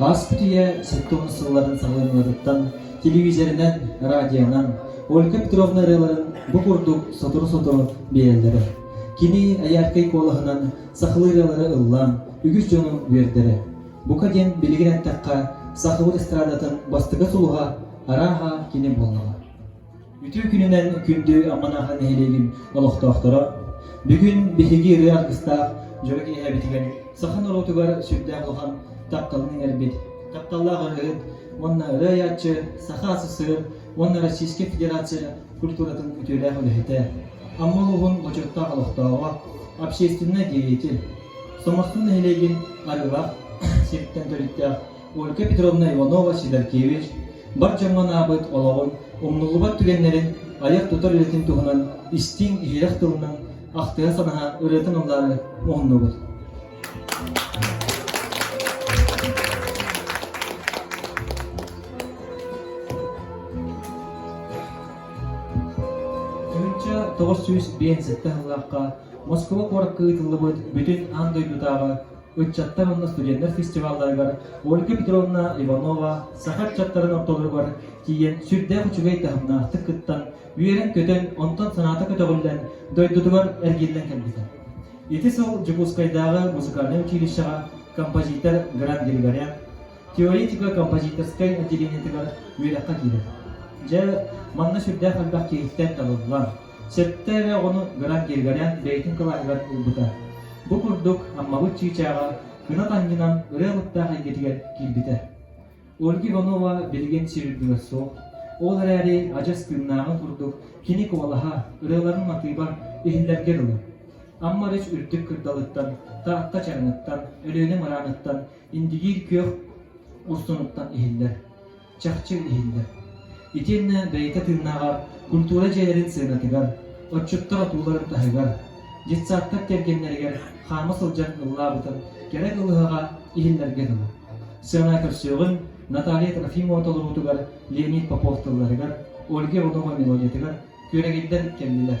Ааспыт үйэ сэттэ уон сылларын салҕаныытыттан телевизорынан, радионан Ольга Петровна ырыаларын бу курдук сотору-сотору биэрэллэрэ. Кини Айаакай куолаһынан сахалыы ырыалары ыллаан үгүс дьону үөрдэрэ. Бука диэн билигин эттэххэ, сахабыт эстрадатын бастакы сулуһа арааһа кини буоллаҕа. Үтүө күнүнэн күндү Амманаһа нэһилиэгин олохтоохторо! Бүгүн биһиги ырыа аргыстаах дьоро киэһэбитигэр саха норуотугар сүрдээх улахан тапталын иҥэрбит, тапталлаах ырыаһыт уонна ырыа айааччы, Саха СССР уонна Российскай Федерация культуратын үтүөлээх үлэһитэ, Амма улууһун бочуоттаах олохтооҕо, общественнай деятель, Сомахтан нэһилиэгин арыылаах сириттэн төрүттээх Ольга Петровна Иванова-Сидоркевич бар дьоҥҥо анаабыт олоҕун, умнуллубат түгэннэрин, айар-тутар үлэтин туһунан истиҥ-иһирэх тылынан ахтыһа-санаһа ырыатын ыллаары муһуннубут. Тыһыынча тоҕус сүүс биээнсэттэ сыллаахха Москуба куоракка ыытыллыбыт Бүтүн аан дойдутааҕы ыччаттар уонна студеннэр фестивалларыгар Ольга Петровна Иванова саха ыччаттарын ортолоругар тиийэн сүрдээх үчүгэй таһымнаахтык кыттан, үөрэн-көтөн, онтон санаата көтөҕүллэн, дойдутугар эргиллэн кэлбитэ. Ити сыл Дьокуускайдааҕы музыкальнай училищеҕа композитор Гран Григорян теоретико-композиторскай отделениетыгар үөрэххэ киирэр. Дьэ, манна сүрдээх элбэх киһиттэн табыллан, Сэттэ эрэ оҕону гынан киргэнэн бэйэтин кылааһыгар ылбыта. Бу курдук Аммабыт чыычааҕа кынат анньынан ырыа куттаах эйгэтигэр киирбитэ. Ольга Иванова билигин сир үрдүгэр суох. Ол эрээри адьас тыыннааҕын курдук кини куолаһа, ырыаларын матыыба иһиллэргэ дылы. Амма Рыч үрдүк кырдалыттан, Таатта чараныттан, Өлүөнэ мырааныттан, Индигиир күөх устунуттан иһиллэр. чахчы иһиллэр. Итиэннэ бэйэтэ тыыннааҕар культура дьиэлэрин сыанатыгар, отчуттар отууларын таһыгар, детсадтар кэргэннэригэр хаама сылдьан ыллаабытын кэрэ кылыһаҕа иһиллэргэ дылы. Сыана көрсүөҕүн Наталья Трофимова толоруутугар Леонид Попов тылларыгар, Ольга Иванова-мелодиятыгар күөрэгийдэн кэллилэр.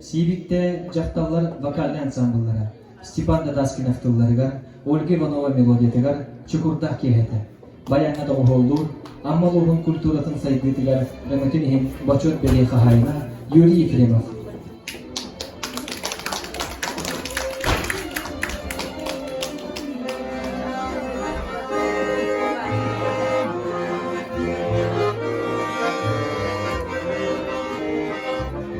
Сиибиктэ дьахталлар вокальнай ансаамбыллара Степан Натаскинов тылларыгар, Ольга Иванова мелодиятыгар чукурдах киэһэтэ, байаҥҥа доҕуһуоллуур Амма улууһун культуратын сайдыытыгар өҥөтүн иһин бочуот бэлиэ хаһаайына Юрий Ефремов,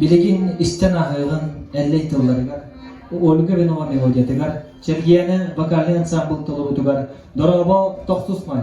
Билигин истэн ааҕыаҕын Эллэй тылларыгар, Ольга Ренова мелодиятыгар, Чэргиэнэ вокальнай ансаамбыл толоруутугар дорообо тохтусмай!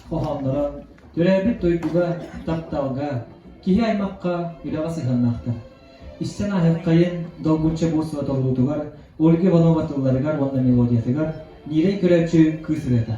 хоһоонноро төрөөбүт дойдуга, тапталга, киһи-аймахха, үлэҕэ сыһыаннаахтар. Истэн аһыаххайын долгучча буолсуотоҕуруутугар Ольга Иванова тылларыгар уонна мелодиятыгар Нирэй Көрөөччү кыыс ырыата.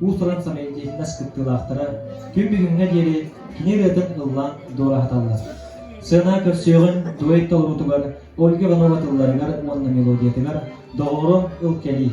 уус-уран фонетикас кыттыылаахтара күн бүгүҥҥэ диэри кини ырыатын ыллаан дуораһаталлар. Сыана көрсүөҕүн дуэт толоруутугар Ольга Иванова тылларыгар уонна мелодиятыгар доҕоро ыл кэлии.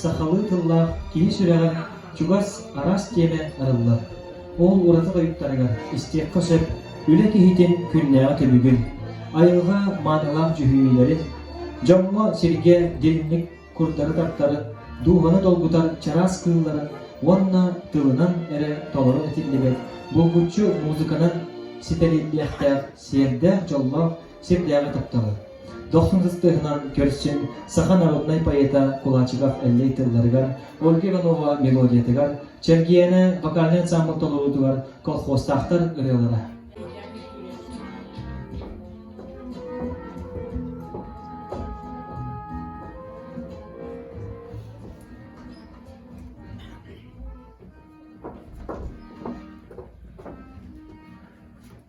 Сахалыы тыллаах киһи сүрэҕин чугас, араас тиэмэ арыллар. Ол ураты тойуктарыгар истиэххэ сөп, үлэ киһитин күннээҕи түбүгүн, айылҕа маанылаах дьүһүйүүлэрин, дьоҥҥо, сиргэ дириҥник курдары-таптары, дуобаны долгутар чараас кыылларын уонна тылынан эрэ толору этиллибэт булгуччу музыканан ситэриллиэхтээх сиэрдээх-дьоллоох сирдээҕи тапталы. Дохсун кыстыһынан көрсүн саха народнай поэта Кулачиков Эллэй тылларыгар, Ольга Иванова мелодиятыгар, Чэргиэнэ вокальнай ансамбл толоруутугар колхозтаахтар ырыалара.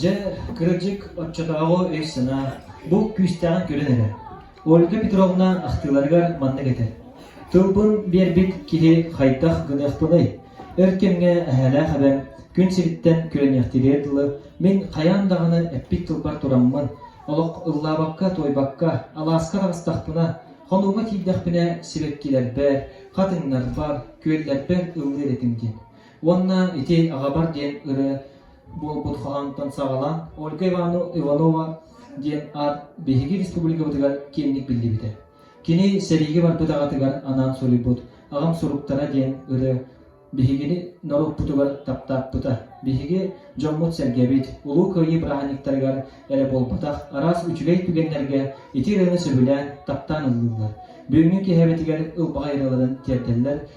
Дьэ, кыратчык оччотооҕу өй-санаа бу күүстээҕин көрөн эрэр, Ольга Петровна ахтыыларыгар маннык этэр: «Тылбын биэрбит киһи хайдах гыныахпыный? Өр кэмҥэ эһээлээх эбэм күн сириттэн күрэниэхтииригэр дылы мин хайаан даҕаны эппит тылбар тураммын, олох ыллаабакка, туойбакка, алааска араҕыстахпына, хонууга тиийдэхпинэ сибэккилэрбэр, хатыҥнарбар, күөллэрбэр ыллыыр этим» диэн уонна ити аҕабар диэн ырыа буолбут хоһоонтон саҕалаан Ольга Иванова диэн аат биһиги республикабытыгар киэҥник биллибитэ. Кини сэриигэ барбыт аҕатыгар анаан суруйбут «Аҕам суруктара» диэн ырыа биһигини норуоппутугар таптааппыта. Биһиги дьоммут-сэргэбит, Улуу Кыайыы бырааһынньыктарыгар эрэ буолбатах араас үчүгэй түгэннэргэ ити ырыаны сөбүлээн, таптаан ыллыллар. Бүгүҥҥү киһибэтигэр ылбаҕай ырыаларын тиэрдэллэр,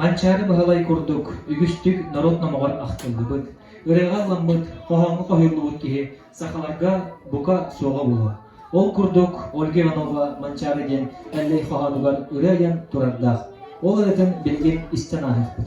Манчаары Баһылай курдук үгүстүк норуот номоҕор ахтыллыбыт, ырыаҕа ылламмыт, хоһооҥҥо хоһуйуллубут киһи сахаларга бука суоҕа буолуо. Ол курдук Ольга Иванова «Манчаары» диэн Эллэй хоһоонугар ырыа айан турардаах. Ол ырыатын билигин истэн ааһыахпыт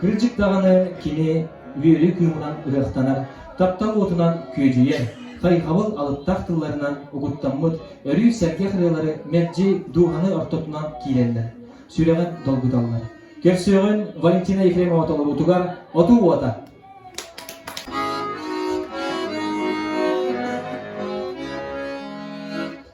Кырдьык даҕаны кини үөрүү кыымынан ырыахтанар, таптал уотунан күөдьүйэр, хайҕабыл алыптаах тылларынан угуттаммыт өрүү сэргэх ырыалары мэлдьи дууһаны ортотунан киирэллэр, сүрэҕин долгуталлар. Көрсүөҕүн Валентина Ефремова толоруутугар «Отуу уота»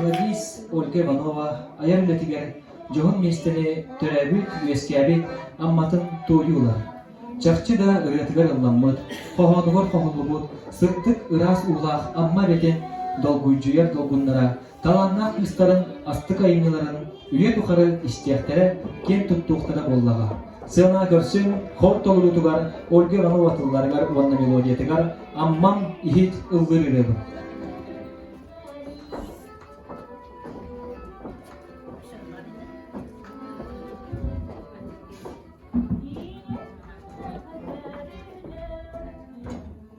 Гладис Ольга Иванова айар үлэтигэр дьоһун миэстэни төрөөбүт, үөскээбит Амматын туойуу ылар. Чахчы да ырыатыгар ылламмыт, хоһоонугар хоһуллубут сыттык ыраас уулаах Амма эбэтин долгуйдьуйар долгуннара талааннаах кыыстарын астык айымньыларын үйэ тухары истиэхтэрэ, киэн туттуохтара буоллаҕа. Сыана көрсүн хор толоруутугар Ольга Иванова тылларыгар уонна мелодиятыгар Аммам иһит ыллыыр ырыабын.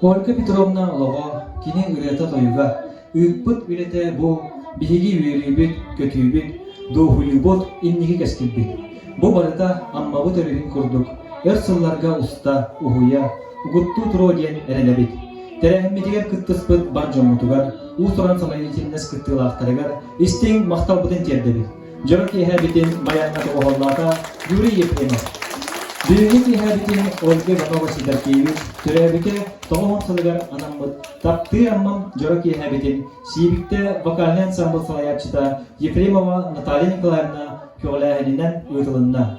Ольга Петровна олоҕо, кини ырыата-тойуга, ыыппыт үлэтэ бу биһиги үөрүүбүт, көтүүбүт, дуоһуйуубут инники кэскилбит. Бу барыта Аммабыт өрүһүн курдук өр сылларга уста, уһуйа, угуттуу туруо диэн эрэнэбит. Тэрээһиммитигэр кыттыспыт бар дьоммутугар, уус-уран самодеятельность кыттыылаахтарыгар истиҥ махталбытын тиэрдэбит. Дьоро киэһээбитин байааҥҥа тоҕуһаллаата Юрий Ефремов. Бүгүҥҥү киэһээбитин Ольга Иванова-Сидоркиевич, төрөөбүтэ тоҕус уон сылыгар анаммыт «Таптыы Аммам» дьоро киэһээбитин Сиибиктэ вокальнай ансамбл салайааччыта Ефремова Наталья Николаевна көҕүлээһининэн ыытылынна.